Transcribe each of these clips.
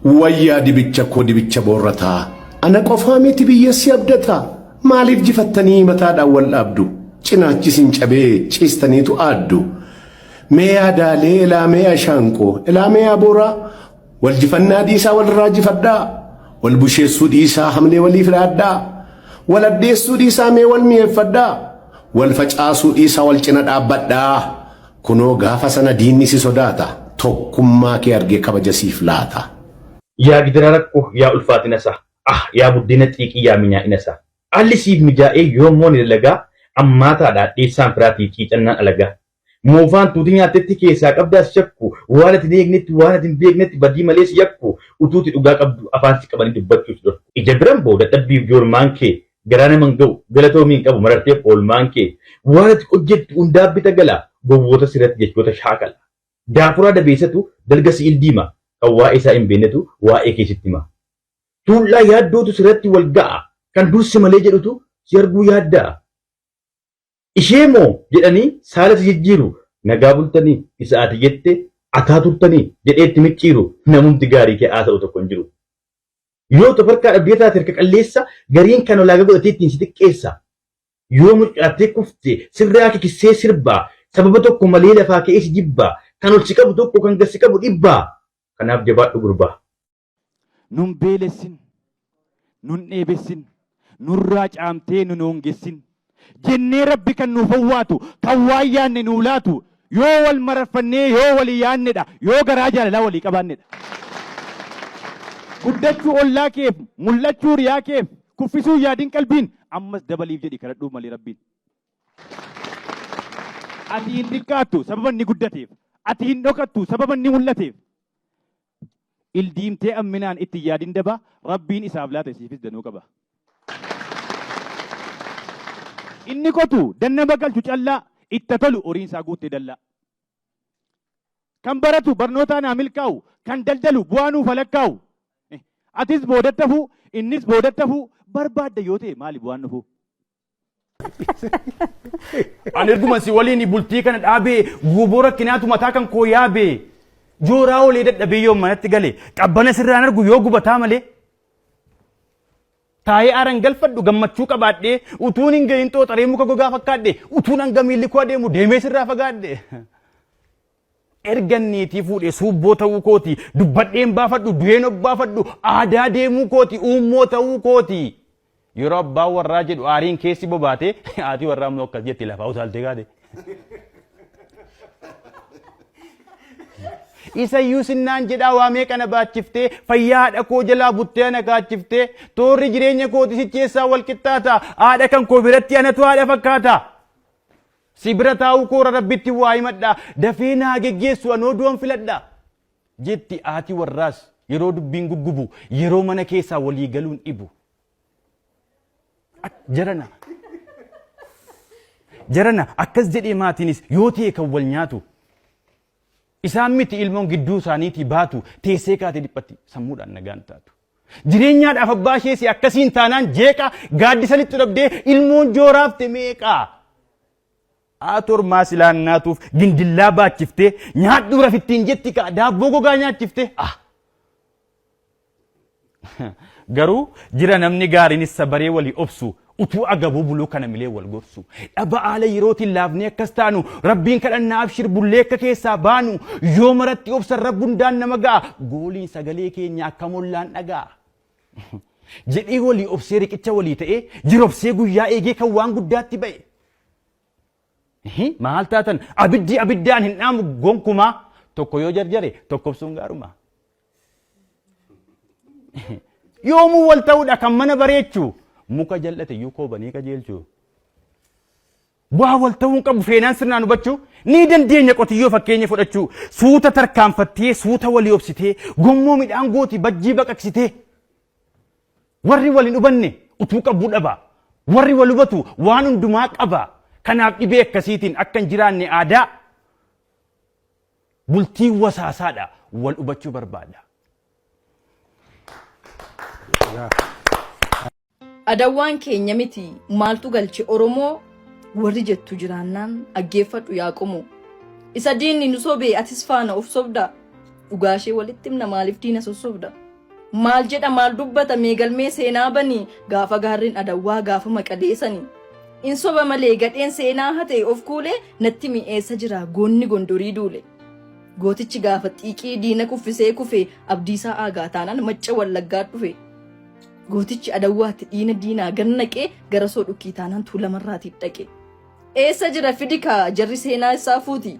Wayyaa dibicha koo dibicha boorrataa ana qofaa miti biyya si abdataa maaliif jifattanii mataadhaan wal dhaabdu cinaachi sin cabee ciistaniitu aaddu mee yaadaalee ilaamee ashaanqoo ilaamee abooraa wal jifannaa dhiisaa walirraa jifadhaa wal busheessuu dhiisaa hamlee waliif dhaadhaa wal addeessuu dhiisaa mee wal mi'eeffadhaa wal facaasuu dhiisaa wal cina dhaabbadhaa. Kunoo gaafa sana diinni si sodaata, tokkummaa kee argee kabaja siif laata. Yaa gidira rakko yaa ulfaatina isaa, ah! yaa buddeena xiiqii yaa minyaa'ina isaa. Haalli siif mijaa'ee yoom moo ni dalagaa, ammaataadha adheessaan firaatii ciicannaan alagaa. Moofaan tuuti nyaattetti keessaa qabdaa si shakku, waan ati hin eegnetti waan ati hin beeknetti badii malee si yakku, utuuti dhugaa qabduu afaan si qabanii dubbachuu si dhorku. Ija biran boo dadhabbiif joormaan kee, Garaa nama hin ga'u. Galatoomi hin qabu mararteef oolmaan kee. Waan ati hojjettu hundaaf bita gala. Gowwoota sirratti jechoota shaakala. Daafuraa dabeessatu dalga si'il diima. Kan waa'ee isaa hin beennetu waa'ee kee sitti hima. Tuullaa yaaddootu sirratti wal ga'a. Kan dur si malee jedhutu si arguu yaadda'a. Ishee moo jedhanii saala si jijjiiru Nagaa bultanii isa ati jette akaa turtanii jedhee itti micciiru Namumti gaarii kee haasa'u tokko hin jiru Yoo utu of harkaa dhabdee taate harka qalleessa Gariin kan ulaagaa godhatee ittiin si xiqqeessa Yoo mucucaattee kufte sirraa kikissee sirba Sababa tokko malee lafaa ka'ee si jibba Kan ol si qabu tokko kan gad si qabu dhibba Kanaaf jabaadhu gurbaa. Nun beelessin, nun dheebessin, nurraa caamtee nun hoongessin jennee Rabbi kan nuuf owwaatu, kan waan yaanne nuu laatu yoo wal mararfannee yoo walii yaannedha, yoo garaa jaalalaa walii qabaannedha. Guddachuu ollaa keef, mul'achuu hiriyaa keef, kuffisuu hin yaadin qalbiin, ammas dabaliif jedhii kadhadhuuf malee Rabbiin. Ati hin xiqqaattu sababa inni guddateef, ati hin dhokattu sababa inni mul'ateef. Ildiimtee amminaan itti hin yaadin daba Rabbiin isaaf laate siifis danuu qaba. Inni kotu dan nama galchu callaa itti haa tolu horiin isaa guuttee dallaa. Kan baratu barnootaan haa milkaa'u kan daldalu bu'aa nuuf haa lakkaa'u. Atis boodatti hafuu innis boodatti hafuu barbaadda yoo ta'e maali bu'aan dhufuu? Ani erguma si waliin bultii kana dhaabee guuboo rakkinaatu mataa kan koo yaabee jooraa olee dadhabee yoo manatti gale qabbana sirraan argu yoo gubataa malee. Taa'ee aaran galfadhu gammachuu qabaadhee utuun hin gahin xooxaree muka gogaa fakkaadhe utuun hanga miilli koo adeemu deemee sirraa fagaadhe. Ergan niitii fuudhee suubboo ta'uu kooti, dubbadheen baafadhu, du'een obbaafadhu, aadaa deemuu kooti, uummoo ta'uu kooti. Yeroo abbaan warraa jedhu aariin keessi bobaatee haati warraa immoo akkas jetti lafaa utaaltee kaate. Isayyuu sinnaan jedhaa waa meeqa na baachiftee fayyaa haadha koo jalaa buttee ana kaachiftee toorri jireenya kooti sicheessaa wal qixxaata haadha kan koo biratti anatu haadha fakkaata. Si bira taa'uu koora Rabbittin waa himadha, dafee naa geggeessu anoo du'an filadha. jetti haati warraas yeroo dubbiin guggubu, yeroo mana keessaa walii galuun dhibu. Ak- Jarana. Jarana akkas jedhee maatiinis yoo ta'e kan wal nyaatu. Isaan miti ilmoon gidduu isaaniitii baatu teessee kaatee dhiphatti sammuudhaan nagaan taatu. Jireenyaadhaaf abbaa ishee si akkasiin taanaan jeeqa gaaddisalittu dhabdee ilmoon jooraafte meeqa? Aator maa silaa nyaatuuf gindillaa baachiftee nyaadhuu rafittiin jetti kaa daabboo gogaa nyaachifte ah. Garuu jira namni gaariin issa baree walii obsu Utuu agabuu buluu kana milee wal gorsu. Dhaba aala yerootiin laafnee akkas taanu, Rabbiin kadhannaa abshir bullee akka keessaa baanu, yoo maratti obsan Rabbi hundaan nama ga'a, gooliin sagalee keenya akkam ollaan dhaga'a. Jedhee walii obsee riqicha walii ta'ee, jirobsee guyyaa eegee kan waan guddaatti ba'e. Hi, Maal taatan abiddi abiddaan hin dhaamu gonkumaa tokko yoo jarjare tokkobsuun gaaruma. yoomuu wal ta'uudha kan mana bareechu muka jal'ate iyyuu koobanii qajeelchu bu'aa wal ta'uu hin qabu feenaan sirnaan hubachuu ni dandeenya qotiyyoo fakkeenya fudhachuu suuta tarkaanfattee suuta walii obsitee gommoo midhaan gooti bajjii baqaqsitee warri wal hin hubanne utuu qabuu dhaba warri wal hubatu waan hundumaa qaba kanaaf dhibee akkasiitiin akka hin jiraanne aadaa Bultiin wasaasaadha wal hubachuu barbaada. Adawwaan keenya miti maaltu galche Oromoo warri jettu jiraannaan dhaggeeffadhu yaa qomoo. Isa diinni nu sobe atis faana of sobda dhugaashee walitti himna maaliif diina sossobda. Maal jedha maal dubbata mee galmee seenaa bani gaafa gaarreen adawwaa gaafa maqalee sani. In soba malee gadheen seenaa hate of kuule natti mi eessa jira goonni gondorii duule. Gootichi gaafa xiiqii diina kuffisee kufe abdiisaa aagaa taanaan macca wallaggaa dhufe. Gootichi adawwaatti dhiina diinaa gannaqee garasoo dhukkii taanaan tuulamarraatiif dhaqe. Eessa jira fidi kaa jarri seenaa isaa fuuti.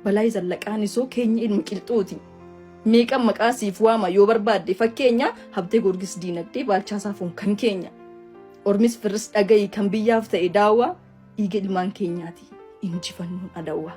Balaay zallaqaan isoo keenyi ilma qilxuuti. Meeqan maqaa siif waama yoo barbaadde fakkeenya habtee goorgis diinagdee baalchaa saafuun kan keenya. Ormis firris dhagayi kan biyyaaf ta'e daawwaa dhiiga ilmaan keenyaati injifannoon adawwaa.